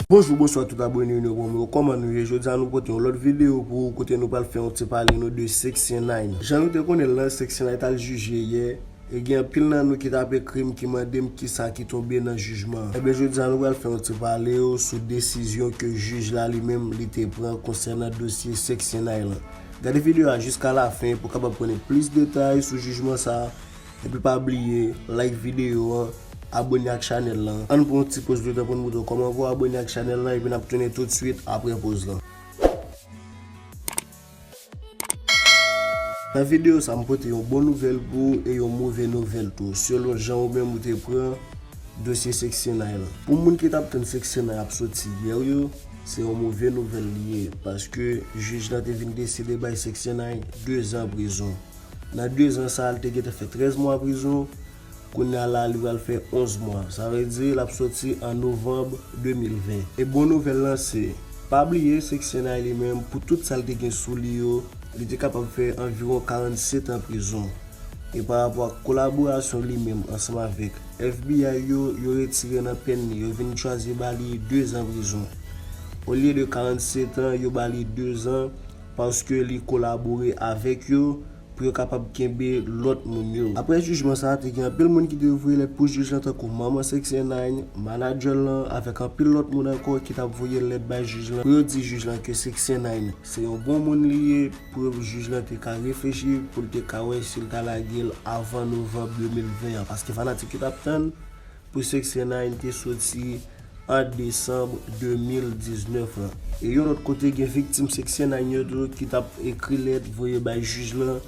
Bonjou bonswa tout abone nou bon moun kòman nou ye jodi a nou pote yon lòt videyo pou ou kote nou pral fè yon ti pale nou de seksyen 9 jan nou te konnen l lan seksyen 9 tal jije yè e gen anpil nan nou ki tap ekri m ki mande m kisa ki tonbe nan jijman an enben jodi a nou pral fè yon ti pale ou sou desizyon ke jij la li menm li te pran konsènan dosye seksyen 9 lan. Gade video a jiska la fen pou kapab konnen plis detay sou jijman sa epi pa bliye like video an abone ak chanèl lan ann pran yon ti poz letan poun moutre w kòman pou abone ak chanèl lan epi nap tounen tout swit aprè poz lan. Nan video sa m pote yon bon nouvèl pou ou e yon move nouvèl tou selon jan ou menm ou te pran dosye seksyon 9 lan pou moun ki tap tann seksyon 9 ap soti yè yo Se yon move nouvèl li ye, paske jij la te vin deside bay Sexenay 2 zan prizon. Nan 2 zan sa a li te gentan fè 13 mwa prizon, kounye a la li pral fè 11 mwa. Sa vle di l ap soti an novanm 2020. E bon nouvèl lan se, pa bliye Sexenay li menm pou tout sa l te gen sou li yo, li te kapab fè anviwon 47 an prizon. E pa rapò ak kolaborasyon li menm ansanm avèk FBI yo, yo retire nan pèn li, yo vin chwazi ba li 2 zan prizon. Olye de 47 an, yo ba li 2 zan paske li kolabore avèk yo pou yo kapab kenbe lòt moun yo. Aprè jijman sa, te gen anpil moun ki te voye lèt pou jij lan tankou manman 6ix9ine, manadjè l lan avèk anpil lòt moun ankò ki t ap voye lèt bay jij lan pou yo di jij lan ke 6ix9ine se yon bon moun li ye, pou jij lan te ka reflechi, pou l te ka wè si l ta lage l avan novanb 2020 an, paske fanatik yo t ap tann pou Seksyen 9 te soti an desanm 2019 lan. E yon lòt kote gen viktim Seksyen 9 yo tou ki t ap ekri lèt voye bay jij lan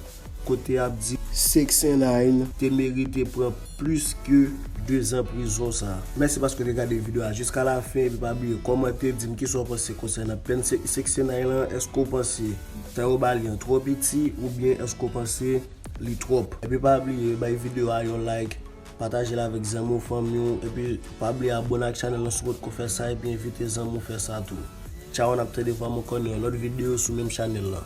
kote y ap di Seksyen 9 te merite pran. plis ke 2 zan prizon sa. Mèsi paske w te gade video a jiska la fen epi pa bliye kòmante dim kisa w panse konsènan pèn 69 lan èske w panse tan yo ba li an twò piti oubyen èske w panse li twòp epi pa bliye bay video a yon like pataje l avèk zanmi w fanmi w epi pa bliye abone ak chanèl lan si w potko fè sa epi envite zanmi w fè sa tou tchaw nap tande vwa mwen kò nan yon lòt video sou menm chanèl lan.